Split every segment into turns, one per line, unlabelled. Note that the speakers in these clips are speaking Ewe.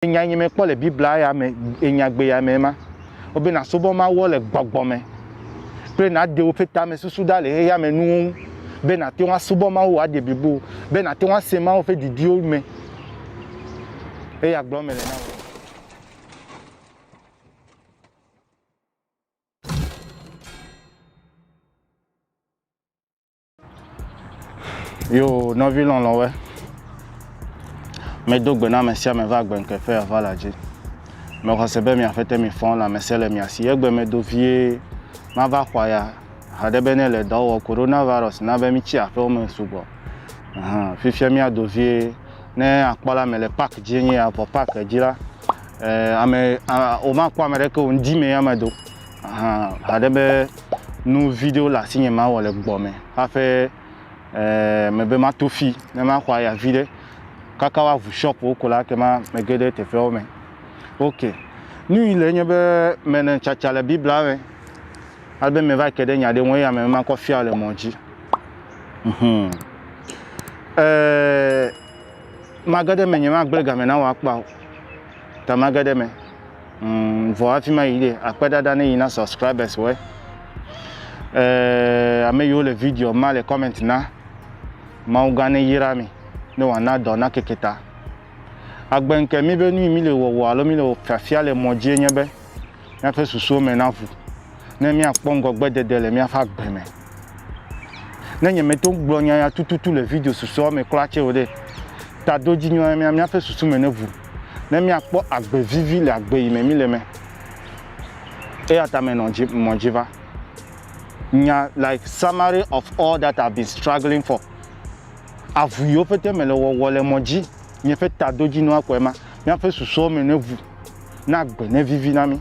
Enya yi mekpɔ le Biblia ya me, enyagbe ya me ma, wobe nasubɔ Mawua le gbɔgbɔ me kple nàɖe woƒe tamesusu ɖa le xexea me nuwo ŋu, be nàte ŋu asubɔ Mawu wòaɖe blibo wò, be nàte ŋu ase Mawu ƒe didiwo me. Eya gblɔm mele na wò. Yo nɔvi lɔlɔ̃we, medo gbe na ame sia ame va gbe ŋkeƒe ava la dzi. Mexɔ se be mia ƒete mi fɔn la mese le mia si egbe medo vie mava xɔa ya haɖe be ne le dɔwɔ korona virus na be mi tsi aƒewo me sugbɔ. Fifia mia do vie ne akpɔ la mele park dzi nye ya vɔ park dzi la, ame, o ma kpɔ ame ɖeke o ŋdi me ya me do. Aha haɖe be nu viɖewo le asinye mawɔ le gbɔ me haƒe eh, mebe mato fi ne maxɔ aya viɖe kaka woaʋu shɔpwo ko la kema mege ɖe teƒeawo me. Ok, nu yi le nye be mele tsatsa le Biblia me alebe meva ke ɖe nya ɖe ŋu eya me makɔ fia le mɔ dzi. Mhm. Eh, mage ɖe me nye magblẽ game na wò akpa o, ta mage ɖe me. Mm, vɔ hafi ma yi ɖe akpedada ne yi na subscribers wɔ. Eh, ame yiwo le video ma le comment na. Mawu gã ne yra mi ne wòana dɔ na keke ta. Agbe ŋke mi be nui mi le wɔwɔ alo mi le fiafia le mɔ dzie nye be míaƒe susuwo me naʋu ne míakpɔ ŋgɔgbedede le míaƒe agbe me. Ne nyemeto gblɔ nya ya tututu le video susɔewo me kura tsɛ o ɖe, tadodzinyɔ ya mia míaƒe susu me neʋu, ne míakpɔ agbe vivi le agbe yi me míle me. Eya ta menɔ dzi, mɔ dzi va. Nya, like summary of all that I've been struggling for. Avu yiwo pete mele wɔwɔ le mɔ dzi, nye ƒe tadodzinyɔa kɔe ma, míaƒe susɔewo me neʋu, ne agbe nevivi na mí.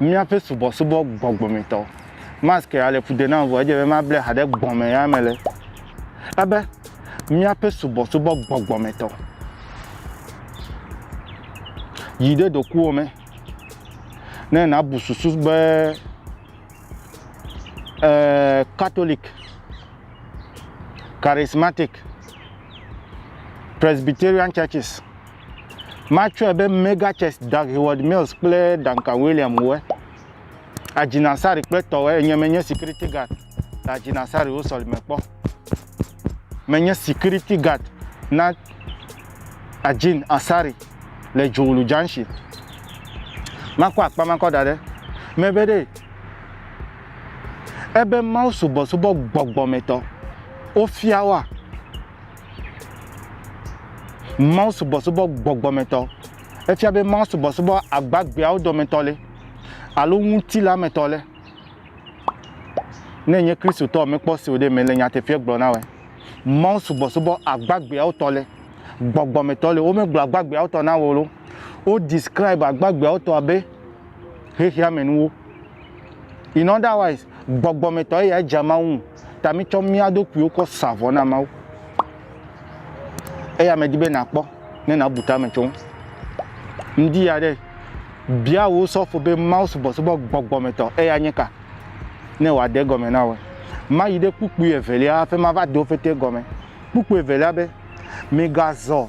Míaƒe subɔsubɔ gbɔgbɔmetɔ. Mask ya le fu de nam vɔ edze be mable ha ɖe gbɔme ya me le ebe míaƒe subɔsubɔ gbɔgbɔmetɔ. Yi ɖe ɖokuiwò me ne nàbu susu be ee Katolik, Charismatic, Presbyterian churches Matsɔe be Mega Church, Dag Heward Mills kple Duncan William wɔe. Adjina Sarri kple tɔwɔe enye menye security guard le Adjina Sarri wo sɔlime kpɔ. Menye security guard na Adjin Asari le Dzowlu Junction. Makɔ akpa makɔ da ɖe mebe ɖe ebe Mawu subɔsubɔ gbɔgbɔmetɔ wofia woa Mawusubɔsubɔ gbɔgbɔmetɔ. Efia be mawusubɔsubɔ agbagbeawo dometɔ ɖe alo ŋutilametɔ ɖe ne nye Kristotɔ mekpɔ si o ɖe mele nyateƒea gblɔ na wɔe. Mawusubɔsubɔ agbagbeawo tɔ ɖe gbɔgbɔmetɔ le. Womegblɔ agbagbeawo tɔ na wò ɖo. Wo describe agbagbeawo tɔ abe xexeamenuwo. In other wise, gbɔgbɔmetɔ eya edze Mawu ŋu. Ta mitsɔ mía ɖokuiwo kɔ sa vɔ na Mawu. Eya medi be nàkpɔ ne nàbu tame tso ŋu. Ŋdi ya ɖe bia wò sɔfo be Mawu subɔsubɔ gbɔgbɔmetɔ eya nye ka ne wòade egɔme na wòe. Mayi ɖe kpukpui evelia hafi mava de wo fete gɔme. Kpukpui evelia be, Migazɔ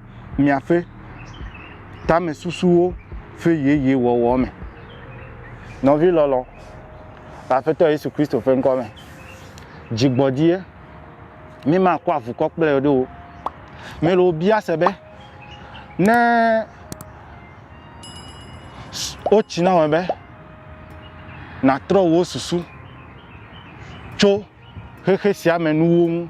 miaƒe tamesusuwo ƒe yeye wɔwɔ me. Nɔvi lɔlɔ, le Aƒetɔ Yesu Kristo ƒe ŋkɔ me, dzi gbɔdzie, mimakɔ avukɔ kple ye ɖo o. Mele wò bia se be, ne wotsi na wò be nàtrɔ wò susu tso xexe sia me nuwo ŋu,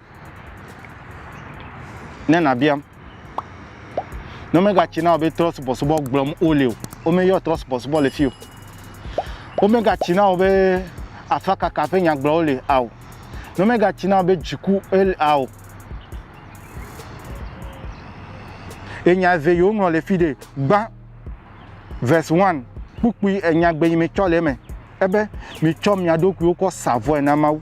Ne nàbiam. Ne womegatsi na wò be trɔ̃subɔsubɔ gblɔm wole o, womeyɔ trɔ̃subɔsubɔ le fi o. Womegatsi na wò be afakaka ƒe nya gblɔm wole ao. Ne womegatsi na wò be dziku ele ao. Ye nya eve yi woŋlɔ le fi ɖe gbã verse one kpukpui enyagbe yi metsɔ le eme ebe mitsɔ mia ɖokuiwo kɔ sa vɔe na Mawu.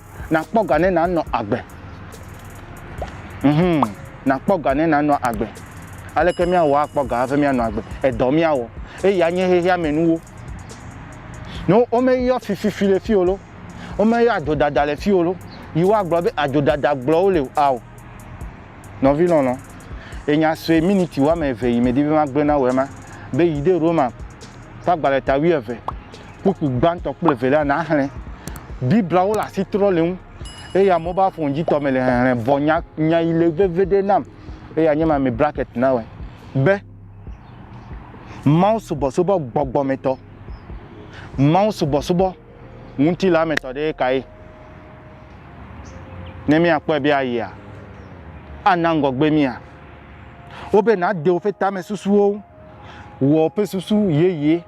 Nàkpɔ ga ne nànɔ agbe. Mhum, nàkpɔ ga ne nànɔ agbe. Aleke míawɔ akpɔ ga hafi míanɔ agbe? Edɔ míawɔ. Eya nye xexeamenuwo. No, womeyɔ fififi le fii o lo, womeyɔ adzodada le fii o lo, yi woagblɔ be adzodada gblɔwo le o, ao, nɔvi lɔlɔ̃, ye nya sue miniti woame eve yi medi be magblɔe na wòe ma, be yi ɖe Roma ƒe agbalẽ ta wuieve, kpukpu gbãtɔ kple evelia naxlẽ Bibliawo le asitrɔlinu eye amewo be afɔŋdzitɔ me le hehlẽ vɔ nya, nya yi le veviɖe nam eye anye ma me bracket na wɔe be Mawu subɔsubɔ gbɔgbɔmetɔ, Mawu subɔsubɔ ŋutilametɔ ɖe ye kae? Ne míakpɔe be ayea, ana ŋgɔgbe mía. Wobe nàde woƒe tamesusuwo ŋu, wɔ woƒe susu yeye.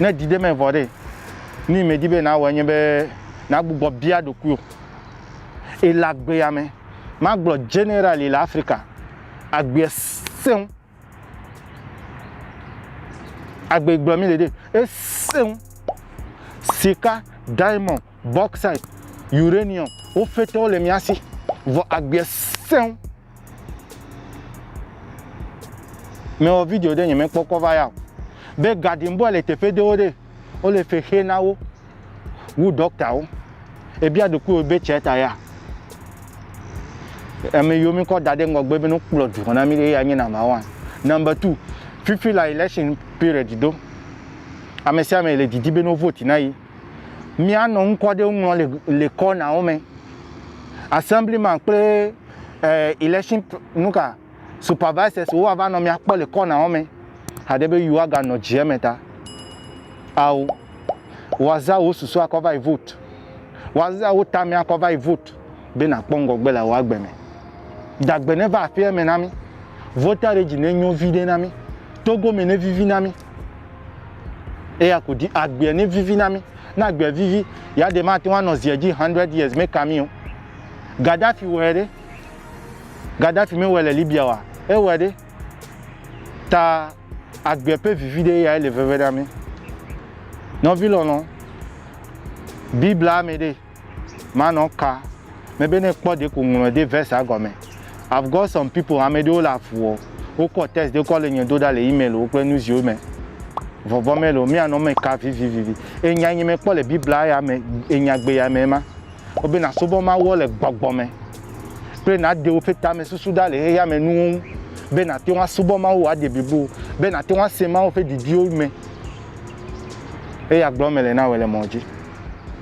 Ne didi me vɔ ɖe, nu yi medi be nawɔe nye be nàgbugbɔ bia ɖokuiwò. Ele agbea me, magblɔ generally le Afrika, agbea sẽ ŋu. Agbe yi gblɔ mi le ɖe, esẽ ŋu. Sika, diamond, bauxite, uranium, wo fete wole mía si. Vɔ agbea sẽ ŋu. Mewɔ video ɖe nye mekpɔkpɔ va ya o. Be garden boy le teƒe ɖewo ɖe, wole fe xe na wo wu dɔktawo. Ebia ɖokuiwò be tsɛ ta ya. Ame yiwo mikɔ da ɖe ŋgɔgbe be wokplɔ dukɔ na mi ɖe ya nye namba one. Namba two, fifi la election period do. Ame sia ame le didi be no vote na yi. Míanɔ ŋkɔ ɖewo ŋlɔ le le kɔnawo me. Assemblyman kple eh, election nuka supervisors wo ava nɔ míakpɔ le kɔnawo me. Haɖe be yewoa ga nɔ dzi eme ta. Ao, woaza wo susu akɔ va yi vote. Woaza wo tame akɔ va yi vote be nakpɔ ŋgɔgbe le wòa gbe me. Dagbe ne va aƒea me na mi. Voter regi ne nyo vi ɖe na mi. Togo me ne vivi na mi. eya ku di agbea ne vivi na mi ne agbea vivi ya de mate ŋu anɔ zia dzi 100 years meka mi o gaddafi wɔe ɖe gaddafi mewɔe le libya wa ewɔe ɖe ta agbea ƒe vivi ɖe ya ele veve na mi nɔvi lɔlɔ biblia me ɖe ma nɔ ka me be ne kpɔ ɖe ko ŋlɔ ɖe verse gɔme. I've got some people, ame ɖewo le afuɔ, wo kɔ text ɖe kɔ le nye do ɖa le email wo kple nu ziwo me. Vɔvɔ me lo, mia nɔ me ka vivivivi. Enya nye me kpɔ le Biblia ya me, enya gbe ya me ma. Wo be na subɔ Mawuɔ le gbɔgbɔ me, kple na ɖe woƒe tame susu ɖa le xexea me nuwo ŋu, be na te ŋu asubɔ Mawu wa ɖe blibo, be na te ŋu ase Mawu ƒe didiwo me. Eya gblɔ me le na wɔ le mɔ dzi.